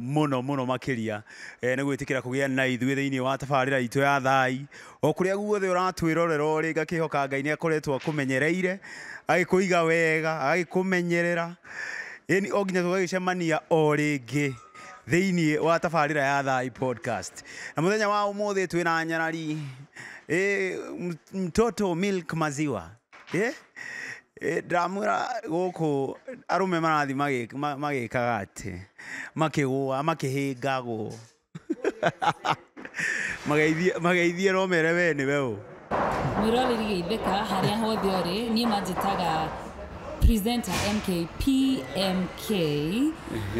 mũno mũno makĩria eh, nĩ gwĩtĩkĩra kũgĩa na ithuĩ thĩinĩ wa tabarĩra itũ ya thai o kũrĩa guothe ũratwĩrorera ũrĩ ngakĩhoka ngai nĩ akoretwo akũmenyereire agĩkũiga wega agĩkũmenyerera ĩni o nginya tũgagĩcemania o rĩngĩ thĩinĩ wa tabarĩra ya thai podcast na mũthenya wa ũmũthĩ twĩna nyarari eh, m- mtoto milk maziwa Ĩ, ĩ, ndĩramwĩra gũkũ arũme marathiĩ magĩ- ma- magĩkaga atĩ makĩgũa makĩhĩngagwo Mageithie- mageithie no mere we nĩwe ũ mwĩroreri geithĩka harĩa hothe ũrĩ niĩ manjĩtaga presenter mkpm Okay.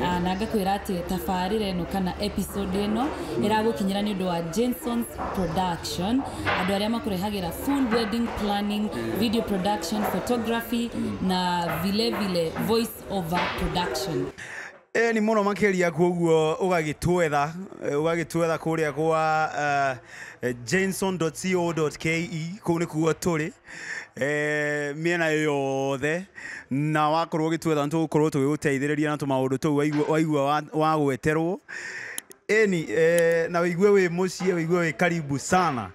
Ah, na ngakwĩra atĩ tabarĩra ĩno kana episode ĩno ĩragũkinyĩra nĩ ũndũ wa Jason's production andũ arĩa makũrehagĩra full wedding planning video production photography na vile vile voice over production Eh, ni muno makiria koguo ugagitwetha eh, ugagitwetha kuria kwa eh, jameson.co.ke kuu nikuo turi eh, mĩena yothe na wakorwo ũgĩtwetha nĩtũgũkorwo tũgĩgũteithĩrĩria na tũmaũndũ tũu waigua- waigua wa- wagweterwo eni eh, na wĩigue wĩ mũciĩ wĩigue wĩ karibu sana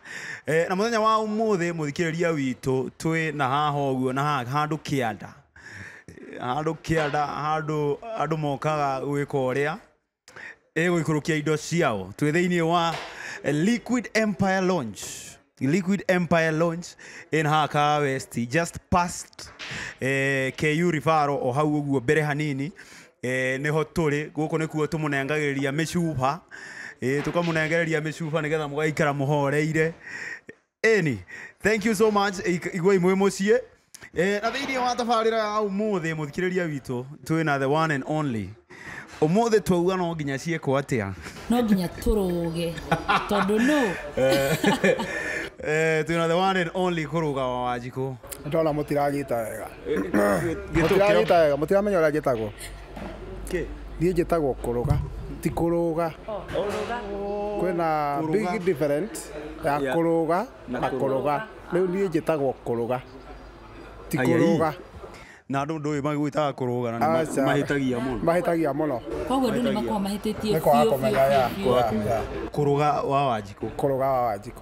eh, na mũthenya wa ũmũthĩ mũthikĩrĩria witũ twĩ na haha ũguo na haha handũ kĩanda handå kä anda handå andå mokaga gwä ka å rä a ĩgũikũrũkia indo ciao twĩ thĩinĩ wa liquid empire launch liquid empire launch in haka west just past eh, ku rifaro o hau ũguo mbere hanini eh, nĩho tũrĩ gũkũ nĩkuo tũmũnengagĩrĩria mĩcuba eh, tũkamũnengereria mĩcuba nĩgetha mũgaikara mũhoreire Eni, thank you so much Ik- igwai mwĩ mũciĩ Eh, na thĩinĩ wa tabarĩra ya ũmũthĩ mũthikĩrĩria witũ twĩ na the one and only ũmũthĩ twauga no nginya ciĩkwo atĩa no nginya tũrũge tondũ no Eh, twĩ na the one and only kũrũga wa wanjikũ ndona mũtiranyita wega Gĩtũkĩro. mũtiranyita wega mũtiramenya ũrĩa njĩtagwo Kĩ? Niĩ njĩtagwo kũrũga ti kũrũga kwĩna big different ya kũrũga na kũrũga rĩu niĩ njĩtagwo kũrũga ti kũrũga na andũ ndũĩ magwĩtaga kũrũga na Aca. mahĩtagia mũno mahĩtagia mũno koguo andå nä makoragwo mahä tä tie nĩ kwaga kũmenya ya kũrũga wa wanjikũ kũrũga wa wanjikũ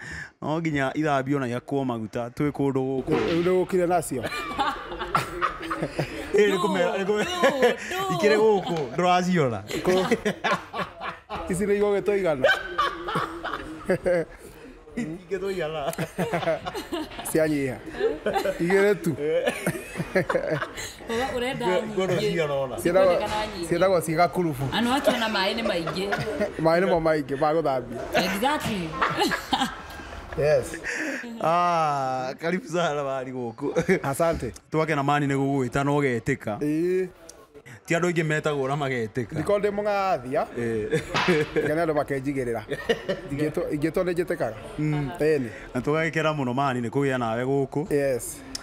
no nginya ithambio na iakwo maguta twĩ kũndũ gũkũ Rĩu nĩgũkire nacio. Ĩĩ, nĩkũmera- nĩkũmera- ikĩrĩ gũkũ ndũraciona Ici nĩ igũgĩtwo igana. ingĩ tũigana Cianyiha. Igĩrĩ tu. Kogo urenda Ngoro nyingĩ. ciarona. Ciĩtagwo- Kwendekana nyingĩ. ciĩtagwo ciĩ gakurubu Anũ acio na maĩ nĩ maingĩ. maĩ nĩmo maingĩ ma gũthambia Exactly. yes Ah, karibu sana bari guku asante twake na mani nä gå gwä ta na å getä ka ĩĩ ti andå aingä metagwo na magetä ka ndikorwo ndĩ mũgathia ngene andũ makenjigä rä ra ingä two nä njä tä kaga eni na tå gagä kena må no mani nä kå gä a nawe gå kå yes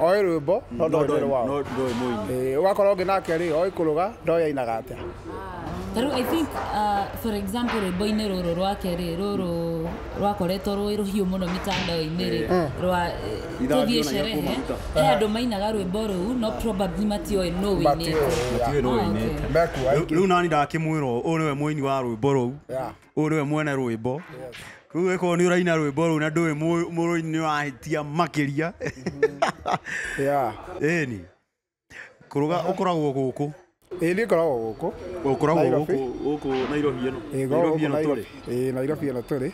oĩ rwĩmbo no ndoĩ nĩ rwao no ndoĩ mũini Eh, ũgakorwo ũngĩ nake rĩ oĩ kũrũga ndoĩ ainaga atĩa Tarĩu I think uh, for example rwĩmbo-inĩ rũrũ rwake rĩ rũrũ rwakoretwo rwĩ rũhiũ mũno mĩtandao-inĩ rĩ rwa Ithanjĩ tũthiĩ ona sherehe irakũmaguta. he andũ mainaga rwĩmbo rũu no probably matiũĩ nũ wĩinĩte Matiũĩ. Matiũĩ nũ Ah, okay. wĩinĩte. mekuo Rĩu- aingĩ rĩu nani ndakĩmwĩrwo ũyũ nĩwe mũini wa rwĩmbo rũu Yeah. ũyũ nĩwe mwene rwĩmbo rĩu wĩkorwo nĩ ũraina rwĩmbo rũu na ndũĩ mũ- mũrũini nĩ wahĩtia makĩria Yeah. ĩni kũrũga ũkoragwo gũkũ Ĩĩ niĩ ngoragwo gũkũ ũkoragwo Nairobi. gũkũ gũkũ nairobi ĩno Ĩĩ, ngoragwo gũkũ Nairobi. Ĩĩ, Nairobi ĩno tũrĩ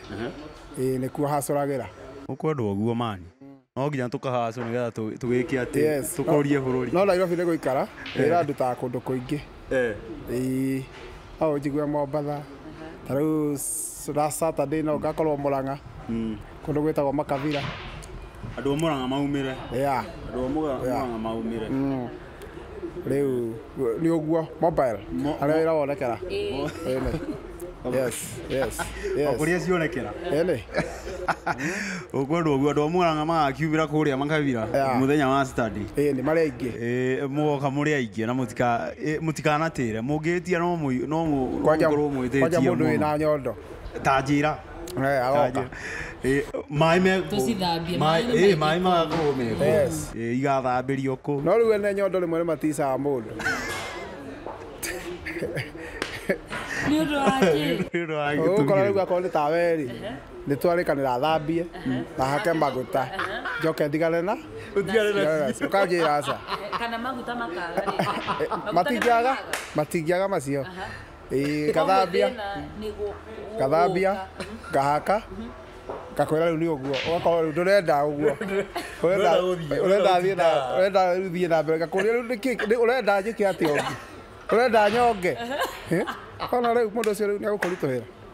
Ĩĩ, nĩkuo hacũragĩra gũkũ andũ oguo mani no nginya tũkahacu nĩgetha tũ- tũgĩke atĩ Yes. tũkũrie bũrũri no nairobi nĩ gũikara wĩra ndutaga kũndũ kũingĩ Eh, Ĩĩ, no ũnjigue mombatha ta rĩu s- last saturday no ngakorwo mũrang'a mm. kũndũ gwĩtagwo makabira andũ a mũrang'a maumĩre ya andũ a Mũga- mũrang'a maumĩre rĩu nĩ ũguo mobile Mo- harĩa wĩra wonekera Ĩĩ. Ĩnĩ. yes yes yes Makũria cionekera. Ĩnĩ. Ũguo andũ ũguo andũ a Murang'a magakiumĩra kũrĩa makabira Yeah. mũthenya wa Saturday. Ĩnĩ, marĩ aingĩ Ĩĩ, mũgoka mũrĩ aingĩ na mũtika ĩ, mũtikanatĩre mũngĩtia no mũi- no mũ- no Kwanja- mũkorwo kwanja mwĩtĩtie mũndũ mũno. wĩna nyondo ta njĩra Eh, aroka. Eh, maĩ me Tũcithambie, maĩ nĩ maingĩ maĩ magakorwo me kũu. Yes. Eh, igathambĩrio kũu no rĩu ene nyondo rĩmwe nĩmaticaga mũndũ nĩ ũndũ wa kĩ Nĩ ũndũ wa ũgũkora gĩtugĩ. rĩu akorwo nĩ tawerĩ nĩ twarĩkanĩra thambie na hake maguta njoke ndigane na Ũtigane na Yes, ũkanjĩra aca kana maguta makaga rĩ? Maguta nĩ matingĩaga makaga? matingĩaga macio Ĩĩ, ngathambia ngathambia ngahaka ngakwĩra rĩu nĩ ũguo ũgakorwo rĩu ndũrenda ũguo ũrenda Ũrenda gũthiĩ, ũrenda ũrenda thiĩ na gũtinda. ũrenda rĩu thiĩ na mbere ngakũria rĩu nĩkĩ nĩ- ũrenda njĩke atĩa ũngĩ ũrenda nyonge Eh? ona rĩu mũndũ ũcio rĩu nĩ agũkũritũhĩra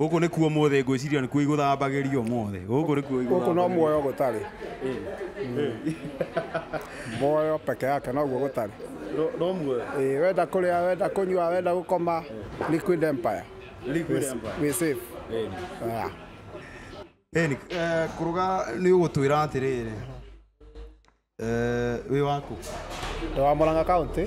Gũkũ nĩkuo ũmũthĩ ngwĩciria nĩkuo igũthambagĩrio ũmũthĩ. Gũkũ nĩkuo igũthambagĩrio. Gũkũ no muoyo gũtarĩ. Muoyo peke yake noguo gũtarĩ. No muoyo. Ĩĩ wenda kũrĩa, wenda kũnyua, wenda gũkoma, Liquid Empire. Liquid Empire. Wĩ safe. Yeah. Ĩni, kũrũga nĩ ũgũtwĩra atĩrĩrĩ, wĩ wa kũ? Ndĩ wa Mũrang'a County.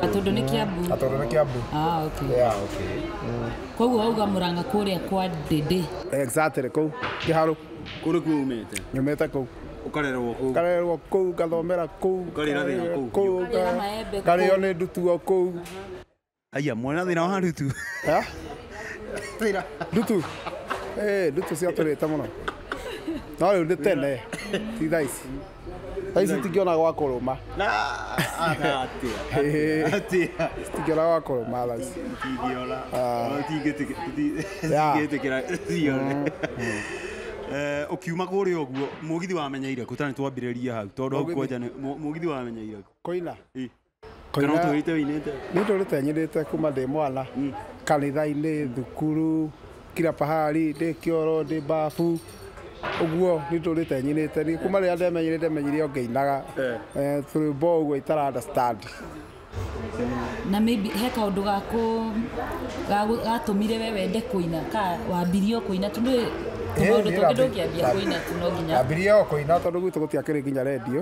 Gatundu nĩ Kiambu. Gatundu nĩ Kiambu. Ah, okay. Yeah. Okay. Mm. Koguo wauga Murang'a kuria kwa Ndindi. Exactly kuu. Kiharu. Kuri kuu umite. Nyumite kuu. Ukarerwo kuu. Ukarerwo kuu, ngathomera kuu. Ukarira thina kuu. Kuu. Ukarira maembe kuu. Ukarira ndutuo kuu. Aya, mwana thina wa ndutu. ndutu Eh, ndutu ciatũrĩte mũno no rĩu nĩ tene ti thaa ici thaa ici tingĩona gwa kũrũma Na ana atia. Eh. Atia. tingĩona gwa kũrũma thaa ici Tingĩona. Ah. Yeah. Tingĩtikira cione. Eh, ukiuma kũrĩa ũguo mũgithi wamenyeire kũ tani twambĩrĩria hau tondũ hau Mũgithi. kwanja nĩ- mũ- mũgithi wamenyeire kũ kũina Ĩ. Kana ũtũrĩte ũinĩte? Nĩ ndũrĩte nyinĩte kuma ndĩ mwana kanitha-inĩ, thukuru, kila pahali, ndĩ kĩoro, ndĩ bafu, ũguo nĩ ndũrĩte nyinĩte. Nĩ kuma rĩrĩa ndemenyire ndemenyire o ngĩinaga eh, tũrwĩmbo o ũguo itara understand. na maybe he kaundu gaku gagu- gatũmire we wende kũina ka wambirie o kũina tu nĩ tũmaũndũ tũngĩ ndũngĩambia kũina tu no nginya Ndambirie o kũina tondũ gwitũ gũtiakĩrĩ nginya redio.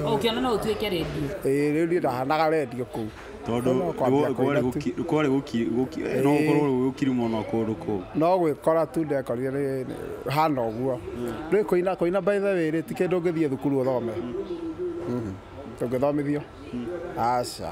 O ũkĩona no ũtuĩke rendio. ĩĩ rĩu niĩ ndahanaga rendio kũu tondũ Kũu no kwambia nĩ- kũina tu. nĩ- kwarĩ gũki- gũki- Ĩĩ. no gũkorwo rĩu gũkiri mũno kũndũ kũu no gwĩkora tu ndekorire nĩ- nĩ- hana ũguo rĩu kũina kũina by the way rĩ ti kĩndũ ũngĩthiĩ thukuru ũthome Mhm. ndũngĩthomithio aca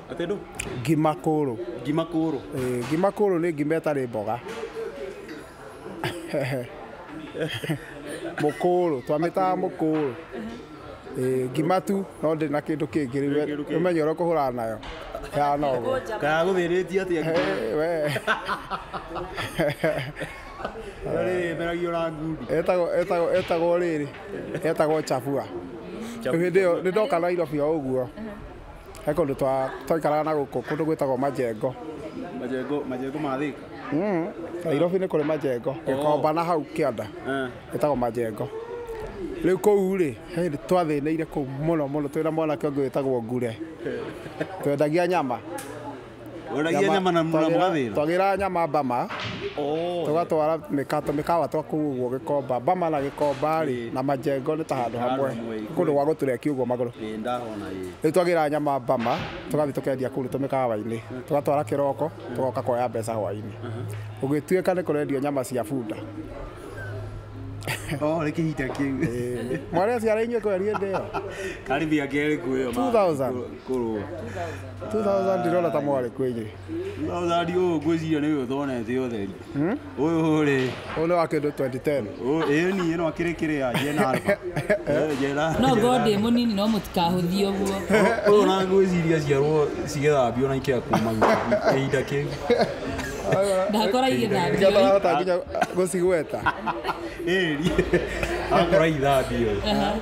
Atĩ ndũ? Ngima kũrũ. Ngima kũrũ. Ĩĩ, ngima kũrũ nĩ ngima ĩtarĩ mboga. Mũkũrũ, twamĩtaga mũkũrũ. Ĩĩ, ngima tu no ndĩrĩ na kĩndũ kĩngĩ rĩu we ũmenye ũrĩa ũkũhũrana nayo. Ĩhana ũguo. Kaĩ agũthĩnĩtie atĩa ngima ĩyo? Hĩ, wee. Ĩyo rĩrĩ ĩmeragio na ngundi. Ĩtagwo, ĩtagwo, ĩtagwo rĩrĩ, ĩtagwo chabua. Rĩu hĩndĩ ĩyo nĩ ndoka Nairobi o ũguo. he kũndũ twa- twaikaraga na gũkũ kũndũ gwĩtagwo majengo majengo majengo ma thika Mm, nairobi nĩ kũrĩ majengo gĩkomba na hau kĩanda ĩtagwo majengo rĩu kũu rĩ he hĩndĩ twathĩnĩire kũu mũno mũno twĩna mwanake ũngĩ wĩtagwo ngure twendagia nyama Wendagia nyama na mura mũgathĩra? Twagĩra nyama Bama, oh. tũgatwara mĩkato mĩkawa twa kũu ũguo Gĩkomba. Bama na Gĩkomba rĩ na Majengo nĩ ta handũ hamwe, kũndũ gwa gũtũrekia ũguo magũrũ. Rĩu twagĩra nyama Bama, tũgathiĩ tũkendia kũu tũmĩkawa-inĩ, mm. tũgatwara kĩroko, mm. tũgoka kuoya mbeca hwaĩ-inĩ. Mm-hmm. Ũgĩtuĩka nĩ kũrendio nyama cia bunda, oh reke hita kiu mwana cia rainywe kwa riende yo karibu ya gere kuyo 2000 kurwa 2000 ndĩrona ta mwarĩ kwĩnyĩ Thari ũyũ ngwĩciria nĩ ũyũ thonete ũtheri. Ũyũ rĩ, ũyũ nĩ wa kĩndũ 2010 ũyũ- ĩĩ ni ĩno akĩrĩ kĩrĩ ya Jena Alba. Eh, Jena. no ngorwo ndĩ mũnini no mũtikahũthie ũguo Ũyũ na ngwĩciria ciarwo cigĩthambio na ikea kuma ihinda kĩu. ndakora Nĩkĩo igĩthambio ndarahota nginya gũcigweta Ĩri. Akora ithambio. Aha.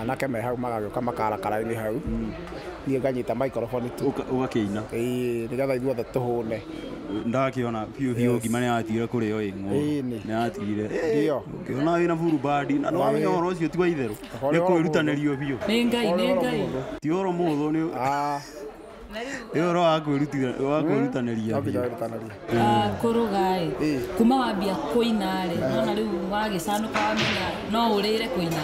anake me hau magagĩũka makara karainĩ hau niĩ nganyita microphone tu Ũka- ũgakĩina ĩĩ nĩgetha ithuothe tũhũne ndakĩona biũ biũ ngima nĩ yatigire kũrĩ o ĩng'o Ĩĩ nĩ. nĩ yatigire Ndio. ũkĩona wĩna buru bandi na nĩ wamenya ũhoro ũcio ti wa itherũ Ũhoro nĩ wa kwĩrutanĩrio biũ nĩ ngai nĩ ngai ti ũhoro mũhũthũ nĩ Ah, Ĩyo ũhoro wa kwĩrutithania- wa kwĩrutanĩria Wambia biũ. wĩrutanĩria. Ah, kũrũgaĩ Ĩĩ. kuma wambia kũinaĩ nona rĩu wagĩcanũka wamenya no ũrĩre kũina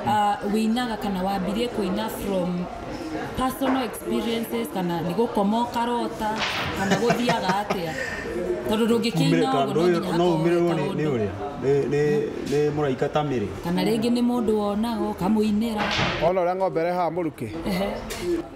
Ah, wĩinaga kana wambirie kũina from personal experiences kana nĩ gũkoma ũkarota kana gũthiaga atĩa tondũ ndũngĩkĩina Kumĩrĩka, ũguo ndũĩ- no nginya no hakorwo umĩrĩrwo wĩta nĩ- nĩ ũndũ. ũrĩa Nĩ- nĩ- nĩ mũraika ta mĩrĩ kana rĩngĩ nĩ mũndũ wonaga ũkamũinĩra Wona ũrĩa ng'ombe ĩrehaga mũrukĩ. Ehe.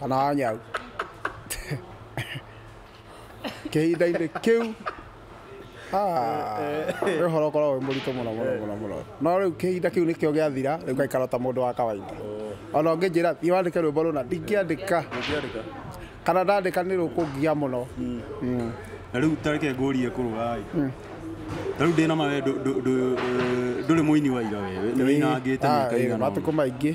Kana nyau. Kĩhinda-inĩ kĩu nĩ ũhoro ũkoragwo wĩ mũritũ mũno mũno mũno mũno no rĩu kĩhinda kĩu nĩkĩo gĩathira rĩu ngaikara ta mũndũ wa kawaida ona ũngĩnjĩra thiĩ wandĩke rwĩmbo rũna ndingĩandĩka kana ndandĩka nĩ rũkũngia mũno na rĩu tareke ngũrie kũrũgai ta rĩu ndĩna ma we ndũ- ndũ- ndũ- ndũ- ndũrĩ mũini wa ira we nĩ wĩinangĩte mĩaka igana ũna. matukũ maingĩ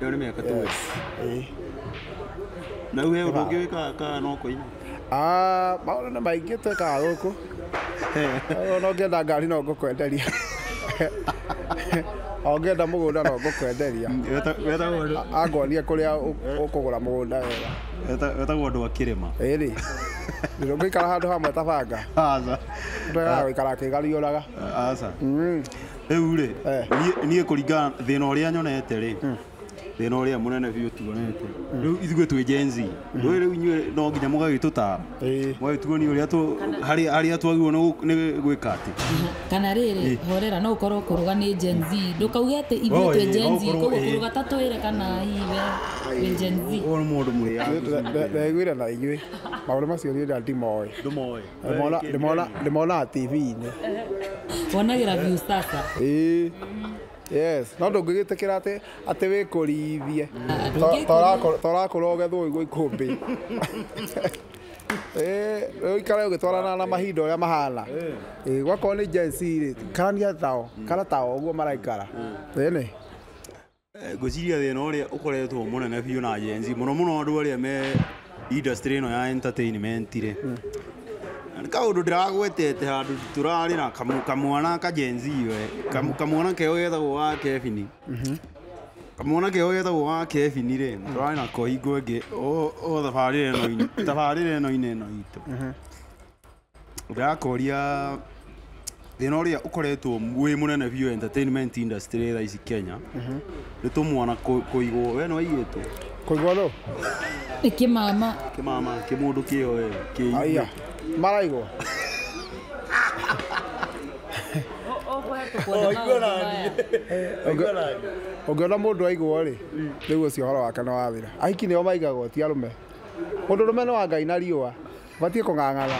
Ĩyo nĩ mĩaka tũwe. Yes. Eh. Na rĩu he ũndũ ũngĩ wĩkaga kana no kũina? Ah, maũndũ nĩ maingĩ twĩkaga gũkũ. Ona ũngĩenda ngari no ngũkwenderia. O ũngĩenda mũgũnda no ngũkwenderia. Weta- Wetagwo andũ A- Angonia kũrĩa ũ- ũkũgũra mũgũnda wega. weta- wetagwo andũ a kĩrĩma. Ĩrĩ. Ndũngĩikara handũ hamwe ta banga. Aca. Ndũregaga gũikara akĩgariũraga. Aca. Mm. rĩu rĩ Eh. niĩ- niĩ kũringana thĩna ũrĩa nyonete rĩ thĩna ũrĩa mũnene biũ tuonete rĩu ithuĩ twĩ Gen Z rĩu rĩu inyuĩ no nginya mũgagĩtũtara Ĩĩ. mũgagĩtuonia ũrĩa tũ- harĩa harĩa twagĩrĩirwo nĩ gũ- nĩ gwĩka atĩ kana rĩrĩ horera no ũkorwo kũrũga nĩ Gen Z ndũkauge atĩ ithuĩ Oh, twĩ ĩĩ, Gen no Z ũkorwo, koguo ĩĩ. kũrũga ta twĩre kana hihi we wĩ Gen Z ũyũ nĩ mũndũ mũrĩa Ndegwĩra na inyuĩ maũndũ macio niĩ nda ndimoĩ ndũmoĩ Ndĩmola- ndĩmola- ndĩmolaga tv-inĩ wonagĩra view sasa Ĩĩ. yes no ndũngĩgĩtĩkĩra atĩ atĩ wĩkũrithie ndũngĩkũrithia. torakũra ũgethwo igwo ikũmbĩ Ĩĩ, ũikare ũgĩtwarana na mahinda ũrĩa mahana Ĩĩ, gwakorwo nĩ Gen Z rĩ karania tao kana tao ũguo maraikara ĩnĩ Ngwĩciria thĩna ũrĩa ũkoretwo mũnene biũ na Gen Z mũno mũno andũ arĩa me industry ĩno ya entertainment rĩ nĩ kaũndũ ndĩragwetete handũ tũrarĩ na kamu- kamwana ka Gen Z we Kamu- kamwana keo getagwo ga Kevin kamwana keo getagwo ga Kevin rĩ tũrarĩ nako hingo ĩngĩ o o thabarĩ ĩno tabarĩra ĩno-inĩ ĩno itũ Ndĩrakoria thĩna ũrĩa ũkoretwo wĩ mũnene biũ entertainment industry thaa ici Kenya nĩ tũmwana kũ- kũigwo we nĩ waigĩtwo Kũigua nũ? Kĩmama. kĩmama kĩmũndũ kĩo we kĩi Aya. Maraigwo. Ũngĩona mũndũ aigwo rĩ, rĩu ũcio ũhoro wake nĩ wathira. Ahiki nĩo maigagwo ti arũme. Mũndũ rũme nĩ wa Ngai na riũa. Ũbatiĩ kũng'ang'ana.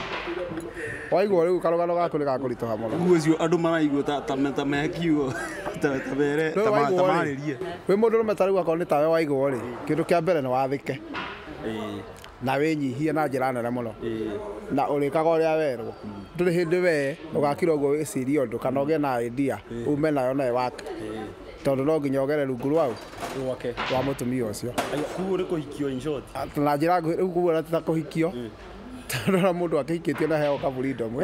Waigua rĩu karũgano gaku nĩ gakũritũha mũno. Rĩu ũcio andũ maraigua ta ta ta me kiugo ta ta bere ta Rĩu ma- ta waigua rĩ, marĩrie. wĩ mũndũ ũrũme ta rĩu akorwo nĩ tawe waigua rĩ, kĩndũ kĩa mbere nĩ wathĩke Ĩĩ, na wĩnyihie na njĩra nene mũno ĩĩ. na ũrĩkaga ũrĩa werwo. Ndũrĩ hĩndĩ wee ũgakira ũguo wĩcirie ũndũ kana ũgĩe na idea ume nayo na ĩwake. Tondũ no nginya ũgere rungu rwa ũ? gwake wa mũtumia ũcio kuu ũrĩ kũhikio in short Atĩ na njĩra nguhĩ rĩu kuguo ta kũhikio tondũ ona mũndũ akĩhikĩtio na heo kaburindomu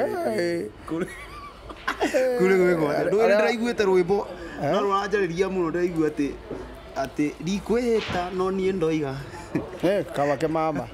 kuri gwä gwothe ndå Arĩa- ndäraiguä rwimbo no rå ranjarä må no ndäraigua atä atä ndikwä hä ta no niä ndoiga kaba ke mama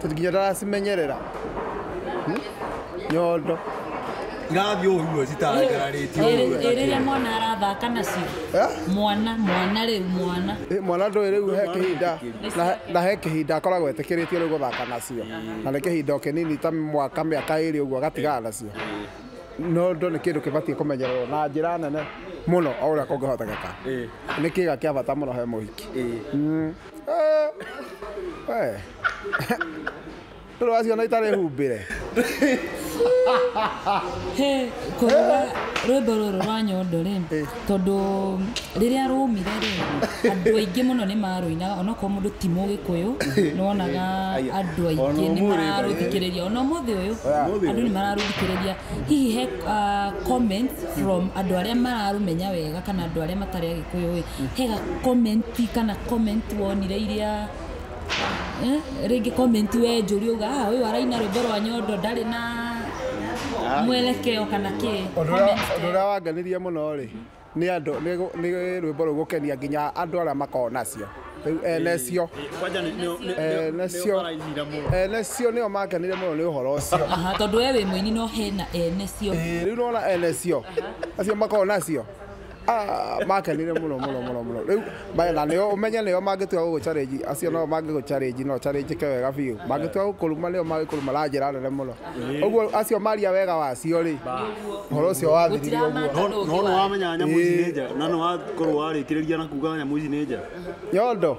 Tondũ nginya ndaracimenyerera Hmm? nyondo irathiĩ ũguo citarangararĩtio ũguo rĩrĩa mwana arathaka nacio Eh? mwana mwana rĩu mwana Ĩ, mwana ndũĩ rĩu he kĩhinda na- na he kĩhinda akoragwo etĩkĩrĩtio rĩu gũthaka nacio na nĩ kĩhinda o kĩnini ta mwaka mĩaka ĩrĩ ũguo agatigaga nacio nondo nĩ kĩndũ kĩbatiĩ kũmenyererwo na njĩra nene mũno o ũrĩa kũngĩhotekeka nĩ kĩga kĩa bata mũno he mũhiki Mm. Eh, we. Ndũrĩ waciona itarĩ humbĩre he kũigua rwĩmbo rũrũ rwa nyondo rĩ tondũ rĩrĩa rũmire rĩ andũ aingĩ mũno nĩ marũinaga onokorwo mũndũ ti mũgĩkũyũ nĩwonaga andũ aingĩ Ona nĩ ũmũthĩ mararũthikĩrĩria ona ũmũthĩ ũyũ Ũmũthĩ andũ ũyũ. nĩ mararũthikĩrĩria hihi he ah, comments from andũ arĩa mararũmenya wega kana andũ arĩa matarĩ agĩkũyũ ĩ hega comment kana comment wonire iria eh, rĩngĩ comment we njũri uga "Ah, ũyũ araina rwĩmbo rwa nyondo ndarĩ na mwelekeo kana kĩ Ũndũ ũrĩa- Comment ũndũ ĩyo. ũrĩa wangenirie mũno rĩ nĩ andũ nĩ gũ- nĩ rwĩmbo rũu gũkenia nginya andũ arĩa makoragwo nacio rĩu enecio kwanja nĩ- nĩ- nĩ- nĩ- enecio nĩũkarainire mũno. enecio nĩo makenire mũno nĩ ũhoro ũcio Aha, tondũ we wĩ mũini no hena ene cio Ĩĩ, rĩu nona enecio acio makoragwo nacio Ah, makenire muno muno muno muno riu maya na nio umenye nio mangitua gugu challenge acio no mangigu challenge no challenge ke wega biu mangitua gukuruma nio magikuruma na njira nene muno uguo acio maria wega wacio ri horo ucio wathirire uguo no no wamenya nyamå ici nä njega na nä wakorwo warä kä rä ria na kuga nyamå ici nä njega nyondo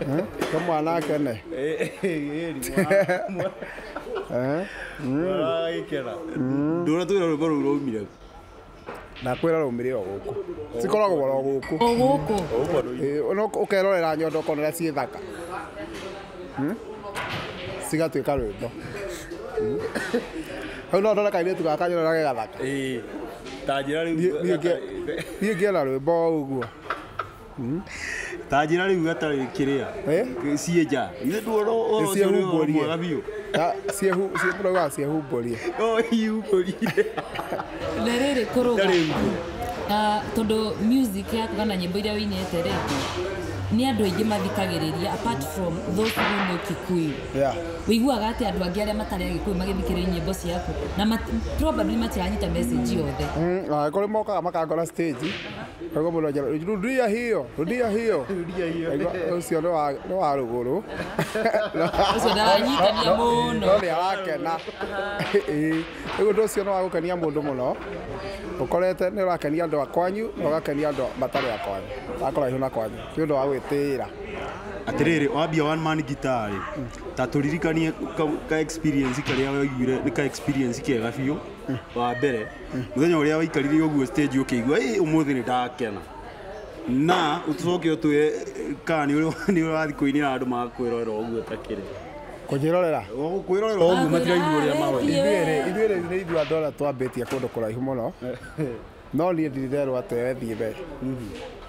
Eh? Ka mwana akene. Eh? ndona twä ra rwä mbo rå u rå mire Ndakwĩra rũmĩrĩ o gũkũ. Cikoragwo oro gũkũ. O gũkũ. Ĩĩ, ona ũk- ũkerorera nyondo ũkona ũrĩa ciĩ thaka. Hmm? Cigatuĩka rwĩmbo. Hmm? Hau no ndona kairĩtu gaka nyona ge gathaka. tanjä ra rä Niĩ- niĩ ngĩ- niĩ ngĩona rwĩmbo o ũguo. tanjira riu atarä kä rä a Eh? ciä nja ithe nduona å cio nä å mwega biå Ta- ciehu- cie- tũraugaga ciehumbũrie iumbårire na rĩrĩ kũrũga Tarĩ nguo. Ah, tondũ music yaku kana nyĩmbo iria ũinĩte rĩ nĩ andũ aingĩ mathikagĩrĩria apart from those who know kikuyu Yeah. ũiguaga atĩ andũ angĩ arĩa matarĩ agĩkũyũ magĩthikĩrĩria nyĩmbo ciaku na mat- probably matiranyita message yothe Mm, na kũrĩ mokaga makangora stage Koguo mũndũ anjĩra rudia hiyo rudia hiyo Rudia hiyo. Aigua, ũcio nĩ wa- nĩ wa rũgũrũ Ũcio ndaranyitania mũno. no nĩ arakena Ĩĩ. rĩu ũndũ ũcio nĩ wa gũkenia mũndũ mũno ũkorete nĩ ũrakenia andũ a kwanyu na ũgakenia andũ matarĩ a kwanyu akũraihu na kwanyu nĩ ũndũ wa gwĩtĩĩra atiriri wambia one man guitar rĩ ta turirikanie ka- ka experience karia waiguire ni ka experience kega biũ wa mbere muthenya uria waikarire uguo stage ukiigua ii umuthi ni ndakena na utucoke utwe kana ni uri- ni urathi kuinira andu magakwirorera uguo takiri kũnjĩrorera kwirorera uguo matiraigua uria mawe ithuerĩ ithuerĩ nĩ ithuĩ andũ arĩa twambĩtie kũndũ kũraihu mũno no niĩ ndirerwo atĩ wethiĩ mbere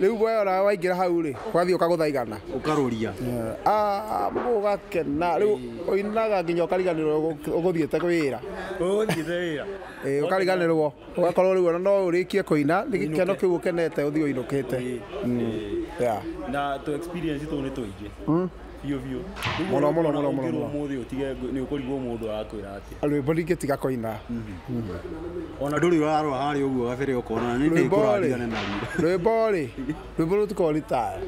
rĩu guoya ũrĩa waingĩra hau rĩ wathiĩ ũkagũtha igana ũkarũria Ah, ũgakena rĩu ũinaga nginya ũkariganĩrwo ũgũ- ũgũthiĩte wĩra ũgũthiĩte wĩra Eh, ũkariganĩrwo ũgakorwo rĩu ona no ũrĩkie kũina nĩ gĩkeno kĩu ũkenete ũthiĩ ũinũkĩte Mm, yeah. na tũ experience tũu nĩ tũingĩ biũ biũ Mũno, mũno, mũno, mũno, mũno. mũthĩ ũtige nĩ ũkũrigwo mũndũ arakwĩra atĩa rwĩmbo ndingĩtiga kũina ona ndũrĩ ũrarora harĩa ũguo gabere ũkona nĩ rwĩmbo rĩ ndĩkũrathigane na ruo rwĩmbo rĩ rwĩmbo rũtikorwo ritaya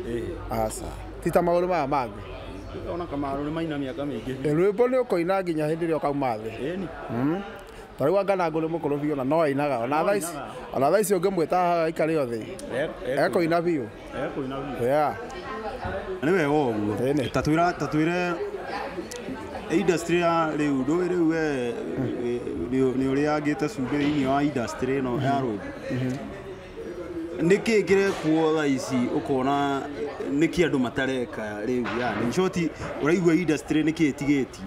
aca ti ta maũndũ maya mangĩ ona kamarũ nĩ maina mĩaka mĩingĩ biũ Eh, rwĩmbo nĩ ũkoina nginya hĩndĩ ĩrĩa ũkauma thĩ ĩni Ta rĩu anga Nangũ nĩ mũkũrũ biũ na no ainaga ona thaa ici ona thaa ici ũngĩmwĩta haha aikare o thĩ ekũina biũ yeah nĩ wega ũguo Ĩnĩ. ta twĩra ta twĩre industry ya rĩu ndũĩ rĩu we nĩ ũrĩangĩte cumbĩ thĩinĩ wa industry ĩno ya rũĩ nĩkĩ kĩrekwo thaa ici ũkona nĩkĩ andũ matareka rĩu yani in short ũraigua industry nĩkĩ ĩtigĩtie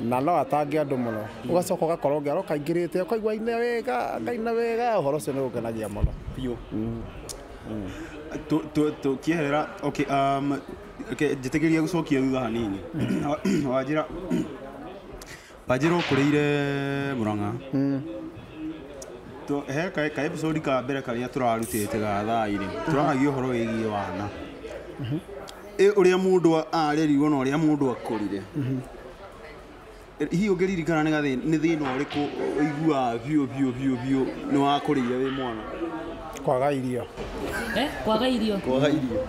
na no atange andũ mũno ũgacoka ũgakorwo ngero kaingĩrĩte ũkaigua aina wega akaina wega ũhoro ũcio nĩ ũngenagia mũno biũ Tu- tu- tũkĩehera okay, um, okay, njĩtĩkĩria gũcokia thutha hanini wanjĩra wanjĩra ũkũrĩire mũrang'a Tu- he ka- ka episode ka mbere karĩa tũrarutĩte ga thaa-inĩ tũraragia ũhoro wĩgiĩ wana Ĩ ũrĩa mũndũ a- arerirwo na ũrĩa mũndũ akũrire Ĩ, hihi ũngĩririkana nĩ gathĩ- nĩ thĩna ũrĩkũ ũiguaga biũ biũ biũ biũ nĩ wakũrĩire wĩ mwana kwaga irio Eh, kwaga irio kwaga irio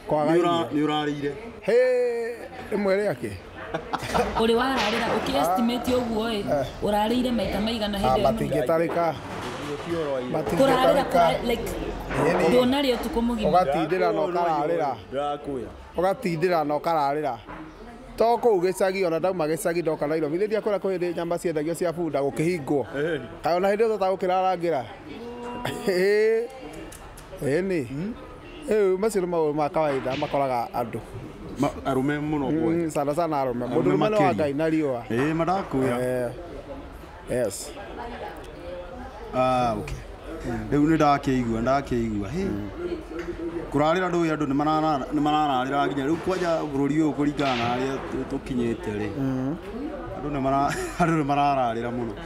kwaga Nĩ irio ũra- nĩ ũrarĩire Hĩ, rĩmwe rĩake Ũrĩ wararĩra ũkĩestimate ũguo ĩ, ũrarĩire maita maigana hĩndĩ ĩyo nũmũ? matingĩtarĩka Kũrarĩra, matingĩtarĩka kũra- like, Ĩni. ndũnarĩa ũtukũ mũgima. ũgatindĩra na ũkararĩra Ndakũya. ũgatindĩra na ũkararĩra to kũu gĩcagi ona ndauma gĩcagi ndoka Nairobi nĩ ndia kũrĩa kũhĩndĩ nyama ciendagio cia bunda gũkĩhingwo kaĩ ona hĩndĩ ĩyo tata gũkĩrarangĩra ĩĩ nĩ Ĩĩ, macio nĩ maũndũ ma kawaida makoraga andũ Ma- arũme mũno kuoya. Mm, sana sana arũme mũndũ Arũme ũrũme nĩ wa makĩria. ngai na riũa Ĩĩ, madakwĩra Eh, yes Ah, okay. rĩu nĩ ndakĩigua ndakĩigua Hĩ. kũrarĩra ndũĩ andũ nĩ marara- nĩ marararĩra nginya rĩu kwanja bũrũri ũyũ kũringana na harĩa tũ- tũkinyĩte rĩ andũ nĩ mara- andũ nĩ marararĩra mũno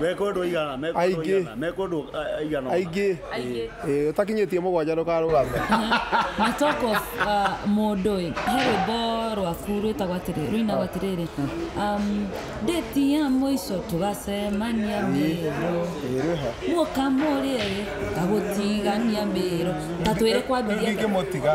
mekwo andå aigana mekwo andũ Aingĩ. aigana, mekwo andå aigana aingĩ Aingĩ. Ĩĩ, ũtakinyĩtie mũgwanja ndũkarũgame na talk of uh, mũndũ ĩ he rwĩmbo rwaku rwĩtagwo atĩrĩ rũinagwo atĩrĩrĩ um, ndĩti ya mũico tũgacemania mĩrũ ĩrĩha muoka mũrĩe ĩ ngagũtigania mĩrũ tatwĩre kwambirie ingĩmũtiga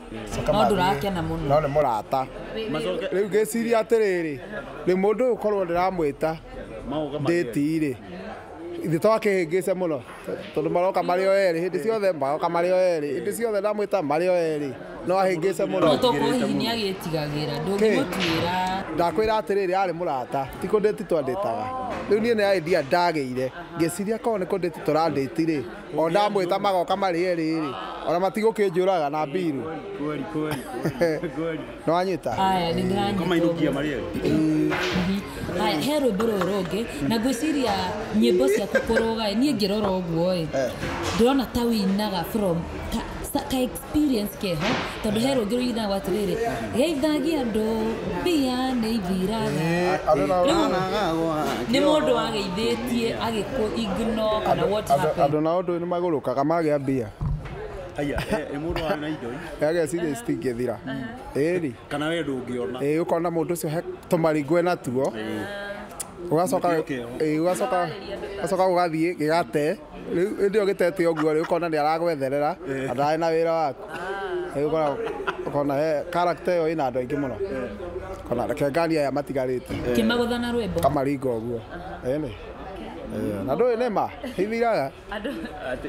no ndũrakena mũno no nĩ mũrata Macoke rĩu ngĩciria atĩrĩrĩ rĩ mũndũ ũyũ korwo ndĩramwĩta maũka ndĩti-rĩ ithe to akĩhĩngĩce mũno tondũ maroka marĩ o erĩ hĩndĩ ciothe maroka marĩ o erĩ hĩndĩ ciothe ndamwĩta marĩ o erĩ no ahĩngĩce mũno no tokorwo hihi nĩ agĩtigagĩra ndũngĩmũtuĩra ndakwĩra atĩrĩrĩ arĩ mũrata ti kũndĩti twandĩtaga rĩu niĩ nĩ idea ndagĩire ngĩciria korwo nĩ kũndĩti tũrandĩti-rĩ o ndamwĩta magoka marĩ erĩ-rĩ ona matigũkĩnjũraga na mbirũ nĩwanyita Aya, nĩ ndĩranyita Kamainũkia ũguo. marĩ erĩ. Mhm. Aya, he rwĩmbo rũrũ rũngĩ na ngwĩciria nyĩmbo ciaku kũrũga ĩ, niĩ ngĩrora ũguo ĩ ndĩrona ta wĩinaga from ta- ta- kaĩ experience kĩeha tondũ he rũngĩ rũigithago atĩrĩrĩ geithagia andũ mbia nĩ ithiraga nĩ mũndũ wageithĩtie agĩkũ ignore kana what andũ happened andũ nao ndũĩ nĩ magũrũkaga magĩa mbia Aya, eh, eh, mũndũ arĩ na indo ĩ, ageciria citingĩthira ĩri kana we ndũngĩona ĩĩ ũkona mũndũ ũcio he tũmaringwe natuo ũgacoka Nĩkĩo kĩeho. ĩĩ, ũgacoka ũgacoka ũgathiĩ gĩgate rĩu hĩndĩ ĩyo gĩtete ũguo rĩ ũkona nĩ aragwetherera na ndarĩ na wĩra waku rĩu ũkona ũkona he character ĩyo ĩna andũ aingĩ mũno ũkona reke nganie aya matigarĩte kĩmagũtha na rwĩmbo kamaringa ũguo ĩnĩ Eh, na ndũĩ nĩ ma hithiraga andũ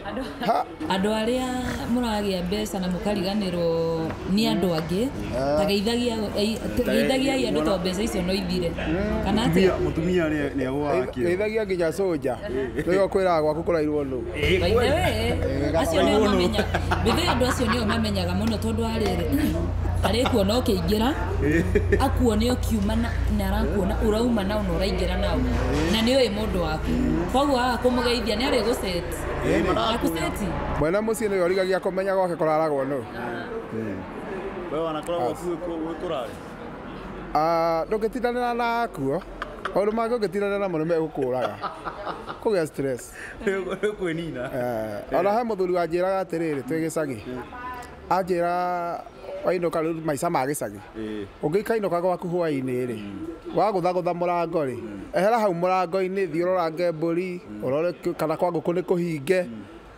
andũ ha andå arä a må ragä a mbeca na må kariganä rwo nä andå angä tageithagia geithagiai andå to mbeca icio no ithire kana atä Mũtumia- Mũtumia nĩ nĩ agũaga kĩo. geithagia nginya soja Nĩwe ũkwĩraga gwaku kũrairwo nũ? Ngai nĩ ũĩ. Acio nĩo mamenya. Mbĩthĩ andũ acio nĩo mamenyaga mũno tondũ wa rĩrĩ. Arĩkuona ũkĩingĩra, akuone ũkiuma na na arakuona ũrauma na na ũraingĩra nao. Na nĩ ũĩ mũndũ waku. Koguo waga kũmũgeithia nĩ arĩgũceti. Akũceti. Mwene mũciĩ nĩwe ũrigagia kũmenya gwake kũraragwo nũ. Wewe wanakoragwo kuo wĩkũrarĩ? Ah, ndũngĩtindanĩra na akuo. Maũndũ mangĩ ũngĩtindanĩra namo nĩ megũkũraga. Kũgĩa stress. Nĩ kwĩnina. Eh, ona he mũthuri wanjĩraga atĩrĩrĩ twĩ gĩcagi. Anjĩra wainũka rĩu maica ma gĩcagi. Ũngĩkainũka gwaku hwaĩ-inĩ rĩ, wagũthagũtha mũrango rĩ, ehera hau mũrango-inĩ thiĩ ũrorange mbũri, ũrore kana kwa ngũkũ nĩ kũhinge.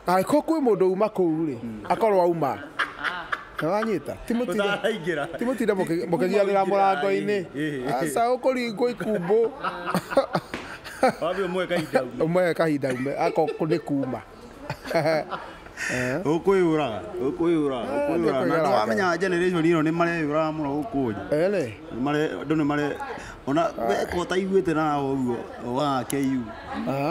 Angĩkorwo kwĩ mũndũ uma kũu rĩ, akorwo auma. Nĩwanyita? Ti mũtinde- Mũtaraingĩra. ti mũtinde mũkĩ- mũkĩgianĩra mũrango-inĩ. Aca ũkũringwo ikumbũ. Wambe ũmũhe kahinda ume. Ũmũhe kahinda ume, akorwo nĩ kuma. Ũkũyũraga, ũkũyũraga, ũkũyũraga. Na nĩwamenya generation ĩno nĩmareyũraga mũno gũkũ thĩ. Ĩrĩ. Nĩmare- andũ nĩmare- ona wekwo taiguĩte na ũguo wa KU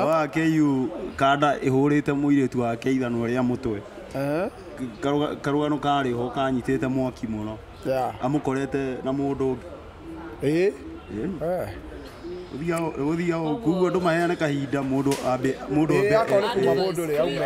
wa KU kanda ĩhũrĩte mũirĩtu wa keithano rĩa mũtwe Eh, Karũga- karũgano karĩ ho kanyitĩte mwaki mũno yeah. amũkorete na mũndũ ũngĩ Eh, eh. gũthiaga kuguo andũ maheane kahinda mũndũ ambe mũndũ Eh, ambe akorwo kuma mũndũ rĩ aume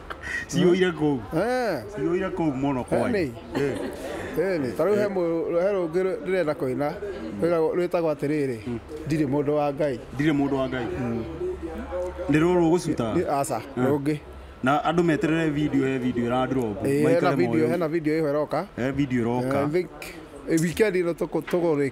ciyũire kũu Eh, ciyũire kũu mũno kwa Eni. Eh. ĩni ta rĩu he mũ- he rũngĩ rũ- ndĩrenda kũina rwĩtagwo- rwĩtagwo atĩrĩrĩ ndirĩ mũndũ wa ngai ndirĩ mũndũ wa ngai nĩ rũrũ gũcuta Nĩ- aca rũngĩ na andũ meterere video he video ĩrandrop Eh, hena video hena video ĩho ĩroka video Eh, ĩroka I think, eh, weekend ĩno tũkũ- tũgũrĩ-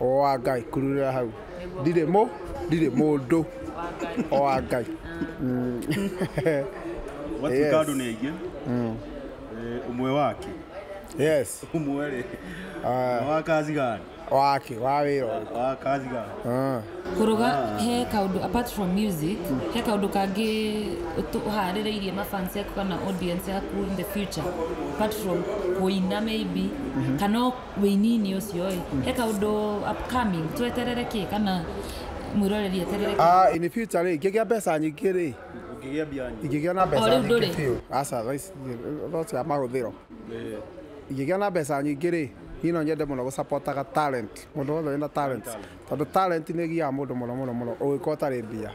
o wa ngai kururira hau ndirĩ mũ ndirĩ mũndũ o wa ngai Mm. Watuĩka Yes. andũ nĩ aingĩ Mm. eh, ũmwe wake yes ũmwe rĩ Ah. wa kazi gani wake wa wĩra ũyũ. wa kazi gani Ah. kuruga he kaundu apart from music he kaundu kangi utu- uhaririirie mafans yaku kana audience yaku in the future apart from kuina maybe kana wĩini-inĩ ũcio ĩ he kaũndũ upcoming tweterere kĩ kana mwĩroreri eterere kĩ? Ah, in the future rĩ ingĩgĩa mbeca nyingĩ rĩ Ũkĩgĩa mbia nyingĩ. ingĩgĩa na mbeca rĩu ndũrĩ? nyingĩ biũ aca thaa ici ndirĩ, no cia mahũthĩro Eh, ingĩgĩa na mbeca nyingĩ rĩ niĩ no nyende mũno gũcapotaga talent mũndũ wothe wĩna talent tondũ talent nĩ ĩgiaga mũndũ mũno mũno mũno ũngĩkorwo ũtarĩ mbia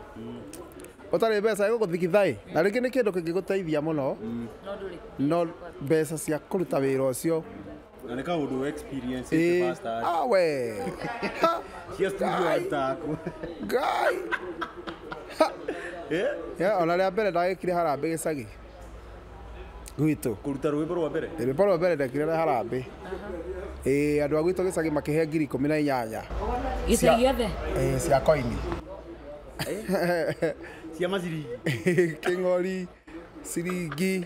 ũtarĩ mbeca ĩgũgũthigitha ĩ na rĩngĩ nĩ kĩndũ kĩngĩgũteithia mũno no mbeca cia kũruta wĩra ũcio Na ni kama udu experience Eh, eh, pasta. ah, we. Ha, Cia studio Guy. atako. guy. Eh? Yeah, ona rĩa mbere ndagĩkire harambĩ gĩcagi gwitũ Kuruta rwĩmbo rwa mbere. rĩmbo rwa mbere ndekire na harambĩ ĩĩ andũ a gwitũ gĩcagi makĩhe ngiri ikũmi na inyanya gĩcagi gĩothe ĩĩ, cia koini Cia maciringi. kĩng'ori ciringi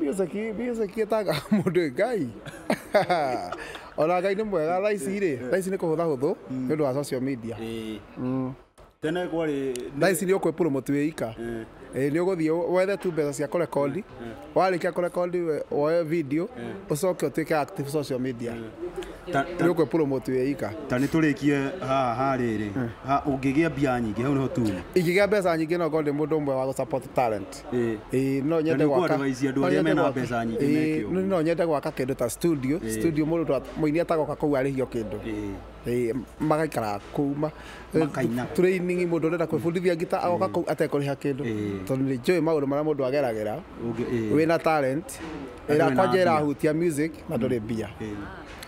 Biosaki biosaki etaga mũndũ ngai ona ngai nĩ mwega thaa ici rĩ thaa ici nĩ kũhũtha hũthũ nĩ ũndũ wa social media Mm. tene kwarĩ thaa ici nĩ ũkwĩpromote wĩ ika Eh, nĩ ũgũthiĩ wethe tu mbeca cia kũrekondi warĩkia kũrekondi we- woe video ũcoke ũtuĩke active social media ta- ta- nĩ ũkwĩpromote wĩ ika ta nĩ tũrĩkie haha ha rĩrĩ Ha- ũngĩgĩa mbia nyingĩ hau nĩho tuuma ingĩgĩa mbeca nyingĩ no ngorwo ndĩ mũndũ ũmwe wa gũ support talent Ĩĩ. Ĩĩ, no nyende Tondũ gwaka- kwadvise andũ no arĩa nyende mena gwaka- mbeca nyingĩ Ĩĩ, meke ũguo. no nyende gwaka kĩndũ ta studio Ĩĩ. studio mũndũ ta- mũini atagoka kũu arĩhio kĩndũ Ĩĩ. Ĩĩ, magaikara kũu ma- Makaina. training mũndũ ũrenda kwĩbundithia ngita agoka kũu atekũrĩha kĩndũ Ĩĩ. tondũ nĩ njũĩ maũndũ marĩa mũndũ ageragĩra Ũngĩ- ĩĩ. wĩna talent Na ĩra ndũrĩ na kwanja mbia. ĩrahutia music na ndũrĩ mbia Ĩĩ.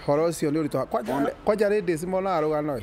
horo ũcio nĩ ũritũ kwanja- kwanja ladies monaga rũgano ĩ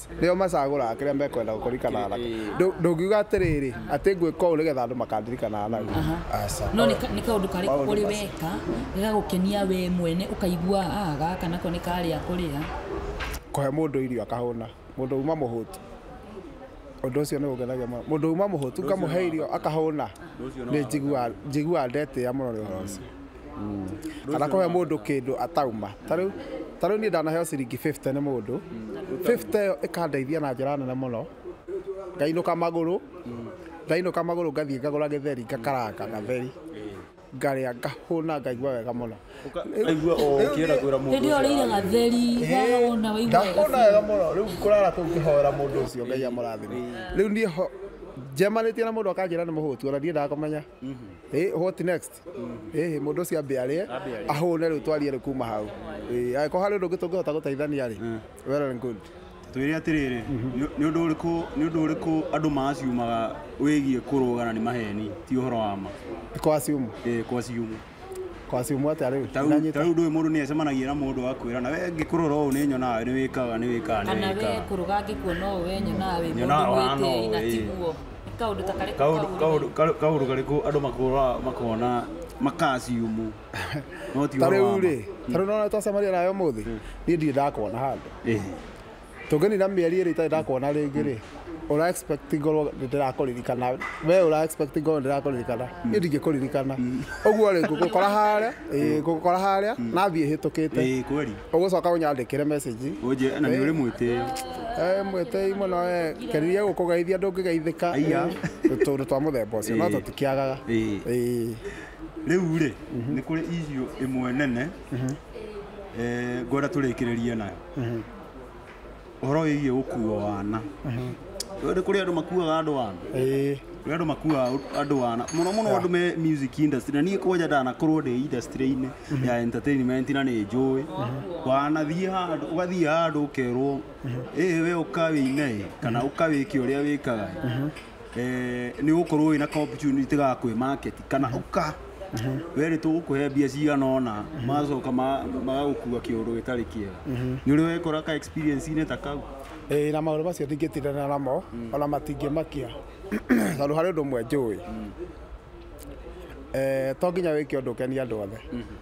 nĩo macagũraga kĩrĩa mekwenda kũrikanaga nakĩo Ndũ- ndũngiuga atĩrĩrĩ atĩ ngwĩka ũũ nĩgetha andũ makandirikanaga nau aca no nĩ ka- nĩ kaũndũ karĩkũ Maũndũ ũrĩ macio. weka gagagũkenia we mwene ũkaigua "Ah, gaka nako nĩ karĩa kũrĩa kũhe mũndũ irio akahũna mũndũ uma mũhũtu ũndũ ũcio nĩ ũngenagia mũno mũndũ uma mũhũtu ngamũhe irio akahũna nĩ njiguaga- njiguaga ndetĩa mũno nĩ ũhoro ũcio kana kũhe mũndũ kĩndũ atauma ta rĩu ta rĩu niĩ ndanaheo ciringi 50 nĩ mũndũ 50 ĩyo ĩkandeithia na njĩra nene mũno ngainũka magũrũ ngainũka magũrũ ngathiĩ ngagũra gĩtheri ngakaranga gatheri ngarĩa ngahũna ngaigua wega mũno Aigua o ũkĩenda kwĩra mũndũ Hĩndĩ ĩyo ũcio ũrĩire gatheri, wahũna, waigua wega ngahũna wega mũno rĩu ngũrara kũu ngĩhoera mũndũ ũcio ngai amũrathime rĩu niĩ ho njemanĩtie na mũndũ akanjĩra nĩ mũhũtu ona ndiendaga kũmenya Eh, what next ĩhĩ mũndũ ũcio ambe arĩe ahũne rĩu twarie rĩ kuma hau Ĩĩ, angĩkorwo harĩ ũndũ ũngĩ tũngĩhota gũteithania rĩ well and good twĩre atĩrĩrĩ nĩ- nĩ ũndũ ũrĩkũ nĩ ũndũ ũrĩkũ andũ maciumaga wĩgiĩ kũrũga na nĩ maheni ti ũhoro wa ma kwa ciumu Eh, kwa ciumu kwa ciumu atĩa rĩu Ta rĩu- Ndanyita. ta rĩu ndũĩ mũndũ nĩ acemanagia na mũndũ akwĩra na we ngĩkũrora ũũ nĩ nyonaga nĩ wĩkaga nĩ wĩkaga nĩ kana we wĩkaga kũrũga angĩkuona ũũ we nyonaga wĩ mũndũ Nyonaga wahana mwĩtĩi ũũ, na ĩĩ. tiguo kaundu ta kariku kaundu kaundu kaundu kaundu kariku andu makura makona makasiumu no ti tariu ri tariu nona twacemania nayo muthi ni ndirĩ ndakona handu tũngĩnina mĩeri ĩrĩ itarĩ ndakona rĩngĩ rĩ ura expect ngorwo ndirakuririkana we ura expect ngorwo ndirakuririkana mm. ni ndingikuririkana uguo mm. ri ngukora haria ngukora haria mm. nathie hitukite ũgũcoka ũnyandĩkĩre message Oje na nĩ ũrĩ mwĩtĩo. Eh, mwĩtĩi mũno eh, keririe gũkũgeithia ndũngĩgeithĩka Aiya. Eh, tũndũ twa mũthemba ũcio no Eh. tũtikĩagaga Ĩĩ. Eh, Rĩu rĩ nĩ kũrĩ issue ĩmwe nene eh, ngwenda tũrĩkĩrĩrie nayo. ũhoro wĩgiĩ gũkuo wana Ũyũ nĩ kũrĩ andũ makuaga andũ wana ĩĩ kũrĩ andũ makuaga andũ wana mũno mũno andũ me music industry na niĩ kwanja ndanakorwo ndĩ industry-inĩ ya entertainment na nĩ njũĩ wanathiĩ handũ ũgathiĩ handũ ũkerwo ĩĩ we ũka wĩine ĩ kana ũka wĩke ũrĩa wĩkaga ĩ." eh, nĩ ũgũkorwo wĩ na opportunity ga kwĩ market kana ũka we nĩ tũgũkũhe mbia cigana ũna magacoka ma- magagũkua kĩũndũ gĩtarĩ kĩega nĩ ũrĩ wekora ka experience-inĩ ta kau Eh, na maũndũ macio ndingĩtindana namo ona matingĩmakia tondũ harĩ ũndũ ũmwe njũĩ Eh, to nginya wĩke ũndũ ũkenie andũ othe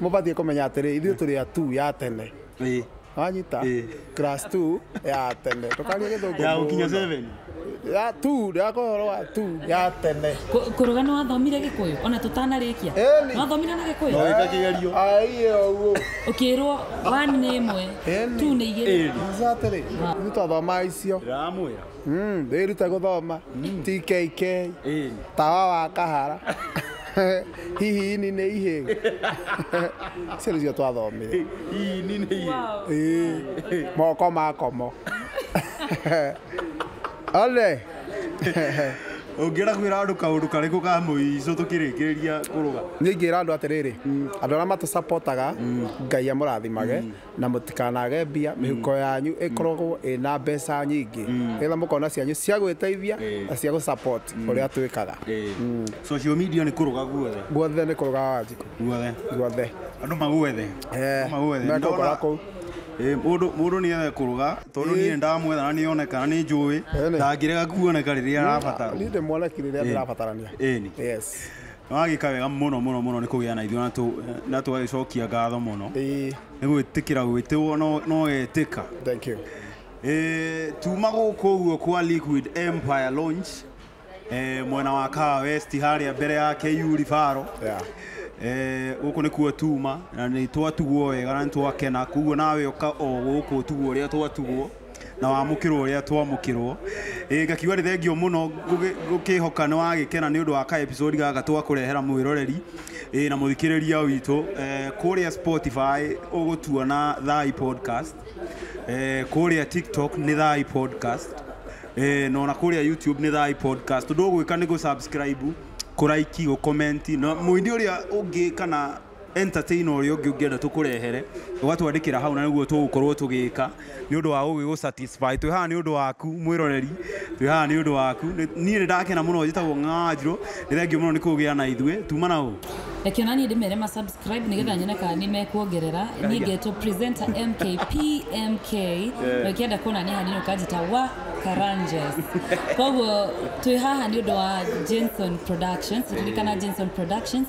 mubatiĩ kũmenya atĩrĩ ithuĩ tũrĩ a tu ya tene Ĩĩ. wanyita Ĩĩ. class 2 ya tene tũkaria gĩthũngũ ya gũkinya mũno. seven ya tu ndĩrakorwo ũhoro wa tu ya tene Kũ- kũrũga nĩ wathomire gĩkũyũ ona tũtanarĩkia Ĩni. nĩ wathomire na gĩkũyũ No. wĩka kĩgerio aiye ũguo ũkĩrwo wani nĩ ĩmwe Ĩni. tu nĩ igĩrĩ Ĩni. Sasa atĩrĩ ithuĩ twathomaga icio ndĩramwĩra Mm, ndĩrute gũthoma TKK Ĩĩ. tawa wa kahara hihi ini nĩ ihĩ icio nĩcio twathomire Ii, ni nĩ iye. Ĩĩ, moko makomo ole Ũngĩra kwĩra andũ kaũndũ karĩkũ ka mũico tũkĩrĩkĩrĩria kũrũga. niĩ ingĩra andũ atĩrĩrĩ andũ arĩa matũcapotaga ngai amũrathimage na mũtikanage mbia mĩhuko yanyu ĩkoragwo ĩna mbeca nyingĩ nĩgetha mũkona cianyu cia gwĩteithia Ĩĩ. na cia gũ support ũrĩa twĩkaga social media nĩ kũrũga guothe guothe nĩ kũrũga wanjikũ guothe guothe andũ magwethe Eh, magwethe mekũgora Ndona- kũu. Eh, mũndũ mũndũ nĩ ethe kũrũga tondũ Ĩĩ. niĩ ndamwetha na nĩ oneka na nĩ njũĩ Ĩĩ. ndangĩrega kuoneka rĩrĩa arabatara niĩ ndĩmuoneki rĩrĩa ndĩrabatarania Ĩĩ. yes Nĩ wagĩka wega mũno mũno mũno nĩ kũgĩa na ithuĩ na tũgagĩcokia ngatho mũno nĩ gwĩtĩkĩra gwĩtĩwo na ũgetĩka. Thank you. Eh, tuma gũkũ ũguo kwa Liquid Empire Launch eh, mwena wa Kawa West harĩa mbere ya KU Ribaro Yeah. Eh, gũkũ nĩkuo tuma na nĩ twatugwo wega na nĩ twakena koguo nawe ũka o gũkũ ũtugwo ũrĩa twatugwo na wamũkĩrwo ũrĩa twamũkĩrwo ĩĩ ngakiuga nĩ thengiũ mũno ngũgĩ- ngũkĩhoka nĩ wagĩkena nĩ ũndũ wa ka episode gaka twakũrehera mwĩroreri ĩĩ na mũthikĩrĩria witũ eh, kũrĩa Spotify ũgũtuona thai podcast eh, kũrĩa tiktok nĩ thai podcast eh, na ona kũrĩa youtube nĩ thai podcast ũndũ ũgwĩka nĩ gũ subscribe kũraiki gũkomenti na mũini ũrĩa ũngĩ kana entertainer ũrĩa ũngĩ ũngĩenda tũkũrehere ũgatwandĩkĩra hau na nĩguo tũgũkorwo tũgĩka nĩ ũndũ wa gũgĩgũ satisfy twĩ haha nĩ ũndũ waku mwĩroreri twĩ haha nĩ ũndũ waku Nĩ- niĩ nĩ ndakena mũno njĩtagwo ng'anjirũ nĩ thengiũ mũno nĩ kũgĩa na ithuĩ tuma na ũ reke ona niĩ ndĩmere ma subscribe nĩgetha nyone kana nĩ mekuongerera niĩ ngetwo presenter mkp mk na ũkĩenda kuona niĩ hanini ũkanjĩta wa karanges koguo twĩ haha nĩ ũndũ wa jenson productions ririkana jenson productions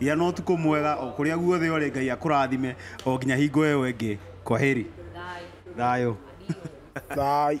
Gĩa na ũtukũ mwega o kũrĩa guothe ũrĩ Ngai akũrathime o nginya hingo ĩyo ĩngĩ kwaheri. Thayũ. Thayũ.